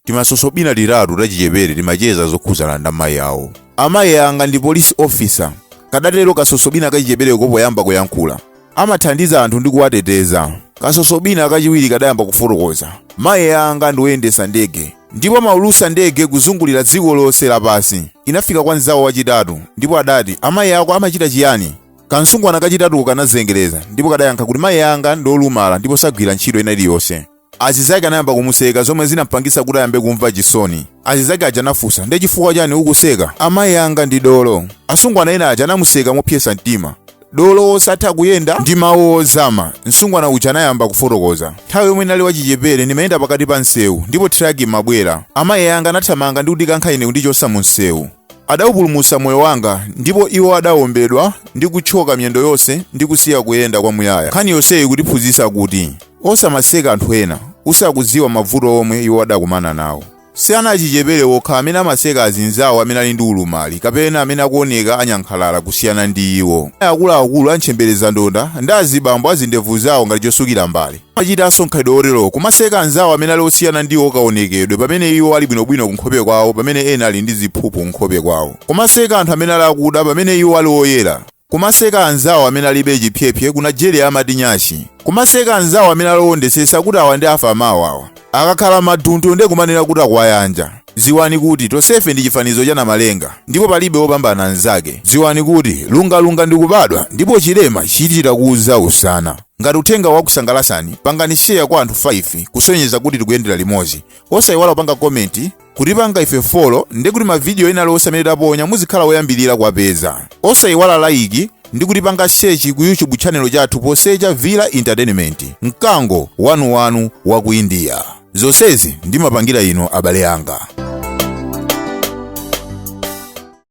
timasosobina titatu tachichepere timacheza zokhudzana ndi amayi awo amayi anga ndi police officer kadatero kasosobina kachichepereko poyamba kuyankhula amathandiza anthu ndi kuwateteza kasosobina kachiwiri kadayamba kufotokoza mayi anga ndi woyendesa ndege ndipo amaulusa ndege kuzungulira dziko lonse lapansi inafika kwa mzawo wachitatu ndipo adati amayi ako amachita chiyani kansungwana kachitatuko kanazengereza ndipo kadayankha kuti mayi anga ndi olumala ndipo sagwira ntchito ina iliyonse Azizake anayamba kumuseka zomwe zinampangisa kuti ayambe kumva chisoni. Azizake aja anafunsa, ndi chifukwa chani ukuseka? Amayi anga ndi dolo. Asungwana ena aja anamuseka mopyesa mtima. Dolo wosatha kuyenda ndi mawu ozama. Msungwana uja anayamba kufotokoza. Nthawi yomwe ndinali wachichepere ndimayenda pakati pa msewu ndipo thiraki imabwera. Amayi anga anathamanga ndi kundikankha ine kundichosa mu msewu. Adaupulumutsa moyo wanga, ndipo iwo adaombedwa ndi kutchoka miyendo yonse ndi kusiya kuyenda kwamuyaya. Nkhani yonseyi ikutiphunzitsa kuti, Osamaseka anthu ena, usakudziwa mavuto omwe iwo adakumana nawo. Si ana achichepere okha amene amaseka azinzawo amene ali ndi ulumali kapena amene akuoneka anyankhalala kusiyana ndi iwo. Akuluakulu a ntchemberezandonda ndi azibambo a zindevu zawo ngati chosukira mbale. amachitanso mkhalidwe woterowo kumaseka anzawo amene ali osiyana ndi iwo kaonekedwe pamene iwo ali bwinobwino kunkhope kwawo pamene ena ali ndi ziphuphu kunkhope kwawo kumaseka anthu amene ali akuda pamene iwo ali oyera kumaseka anzawo amene alibe chiphyephye ku nigeria amati nyashi kumaseka anzawo amene ali owondetsetsa kuti awa ndi afa mawa awa akakhala maduntu ndi kumanena kuti akuwayanja dziwani kuti tonsefe ndi chifanizo cha namalenga ndipo palibe wopambana mzake dziwani kuti lungalunga ndi kubadwa ndipo chilema chichita kudza usana Ngati uthengawu wakusangalasani, pangani share kwa anthu 5 kusonyeza kuti tikuyendera limodzi. Osayiwala kupanga komenti, kutipanga ife follow ndi kuti mavidiyo ena alionse amene taponya muzikhala woyambirira kuwapeza. Osayiwala layiki ndi kutipanga sechi ku YouTube tchanelo chathu posecha Villa Entertainment, mkango wanuwanu wa ku India. Zonsezi ndimapangira inu abale anga.